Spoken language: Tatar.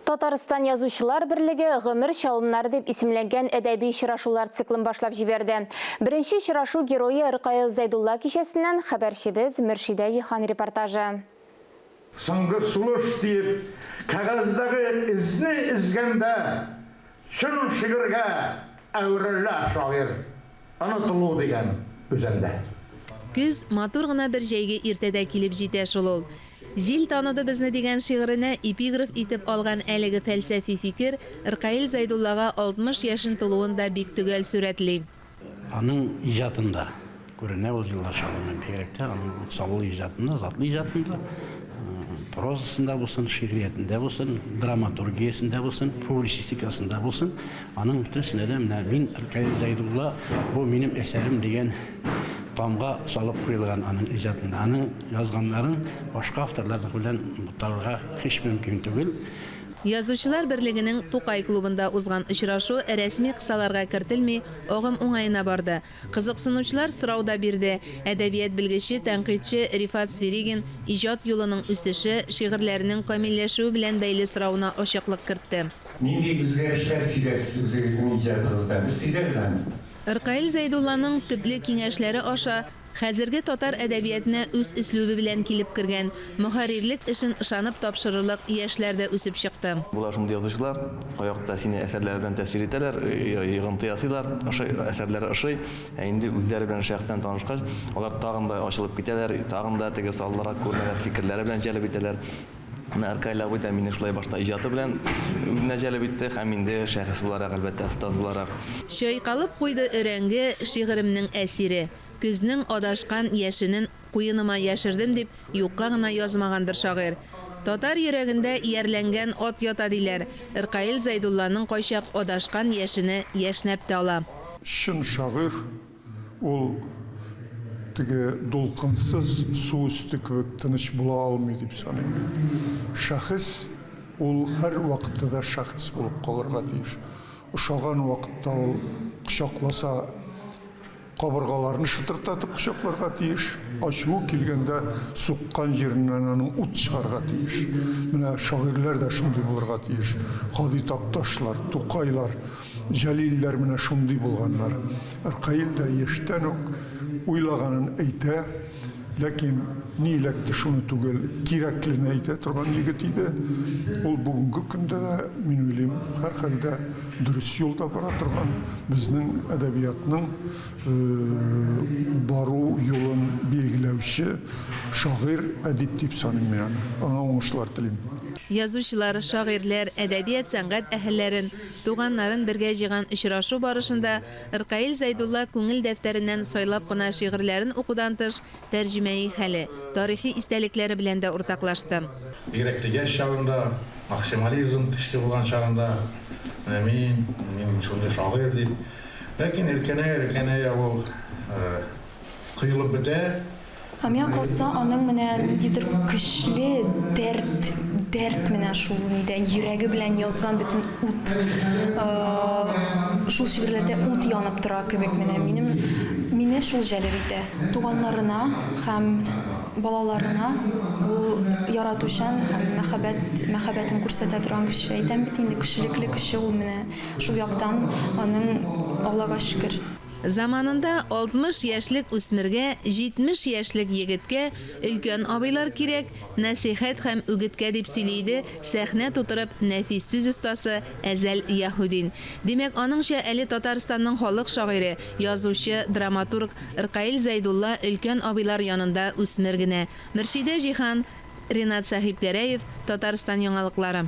Татарстан язучылар берлеге Гомер чалымнары дип исемләнгән әдәби очрашулар циклын башлап җибәрде. Беренче очрашу герое Ркаил Зәйдулла кичәсеннән хәбәрчебез Мөршидә Җиһан репортажы. Соңгы сулыш диеп, кәгазьдәге эзне эзгәндә, Чын шигырьгә әверелә шагыйрь онытылу дигән үзәндә. Көз, матур гына бер җәйге иртәдә килеп җитә шул ул. Җил таныды безне дигән шигыренә эпиграф итеп алган әлеге фәлсәфи фикер Ркаил Зәйдуллага 60 яшен тулуын да бик төгәл сурәтли. Аның иҗатында күренә ул җылылар шавымы, бигрәк тә аның саллы иҗатында, затлы иҗатында, прозасында булсын, шигъриятендә булсын, драматургиясендә булсын, публицистикасында булсын, аның бөтенесенә дә менә мин Ркаил Зәйдулла, бу минем әсәрем дигән тамга салып куелган аның иҗатында. Аның язганнарын башка авторлар белән буталырга һич мөмкин түгел. Язучылар берлегенең Тукай клубында узган очрашу рәсми кысаларга кертелми, агым уңаена барды. Кызыксынучылар сорау да бирде, әдәбият белгече, тәнкыйтьче Рифат Свиригин иҗат юлының үсеше, шигырьләренең камилләшүе белән бәйле соравына ачыклык кертте. Нинди үзгәрешләр сизәсез үзегезнең иҗатыгызда? Без сизәбез аны. Ркаил Зәйдулланың төпле киңәшләре аша Хәзерге татар әдәбиятына үз өслүбе белән килеп кергән, мөхәррирлек эшен ышанып тапшырырлык яшьләр дә үсеп чыкты. Болар шундый язучылар, аякта сине әсәрләре белән тәэсир итәләр, йогынты ясыйлар, ошый, әсәрләре ошый, ә инде үзләре белән шәхсән танышкач, алар тагын да ачылып китәләр, тагын да теге саллырак күренәләр, фикерләре белән җәлеп итәләр. Менә Аркаль абый да мине шулай башта иҗаты белән үзенә җәлеп итте һәм инде шәхес буларак, әлбәттә, остаз буларак. Чайкалып куйды өрәңге, шигыремнең әсире. Көзнең адашкан яшенен куеныма яшердем, дип юкка гына язмагандыр шагыйрь. Татар йөрәгендә иярләнгән ат ята, диләр, Ркаил Зәйдулланың кайчак адашкан яшене яшьнәп тә ала. Чын шагыйрь Ул теге дулкынсыз су өсте кебек тыныч була алмый дип саныйм мин. Шәхес, ул һәр вакытта да шәхес булып калырга тиеш. Ошаган вакытта ул кочакласа, кабыргаларны шытырдатып кочакларга тиеш, ачуы килгәндә суккан җиреннән аның ут чыгарга тиеш. Менә шагыйрьләр дә шундый булырга тиеш. Һади Такташлар, Тукайлар. Җәлилләр менә шундый булганнар. Ркаил дә яшьтән үк уйлаганын әйтә, ләкин ни эләкте шуны түгел, кирәклене әйтә торган егет иде. Ул бүгенге көндә дә, мин уйлыйм, һәрхәлдә дөрес юлда бара торган, безнең әдәбиятның бару юлын билгеләүче шагыйрь, әдип дип саныйм мин аны. Аңа уңышлар телим. Язучылар, шагыйрьләр, әдәбият-сәнгать әһелләрен, Туганнарын бергә җыйган очрашу барышында Ркаил Зәйдулла күңел дәфтәреннән сайлап кына шигырьләрен укудан тыш, тәрҗемәи хәле, тарихи истәлекләре белән дә уртаклашты. Бигрәк тә яшь чагында, максимализм көчле булган чагында, менә мин, мин шундый шагыйрь дип. Ләкин өлкәнәя-өлкәнәя ул коелып бетә. Ә миңа калса, аның менә ниндидер көчле дәрт, дәрт менә шул ни дә, йөрәге белән язган бөтен ут, шул шигырьләрдә ут янып тора кебек менә минем, мине шул җәлеп итә. Туганнарына һәм балаларына ул яратучан һәм мәхәббәт, мәхәббәтен күрсәтә торган кеше. Әйтәм бит инде, кешелекле кеше ул менә шул яктан аның, Аллага шөкер. Заманында 60 яшьлек үсмергә, 70 яшьлек егеткә өлкән абыйлар кирәк, нәсыйхәт һәм үгеткә, дип сөйли иде сәхнә тутырып нәфис сүз остасы Әзәл Яһүдин. Димәк, аныңча, әле Татарстанның халык шагыйре, язучы, драматург Ркаил Зәйдулла өлкән абыйлар янында үсмер генә. Мөршидә Җиһан, Ринат Сәхипгәрәев, Татарстан яңалыклары.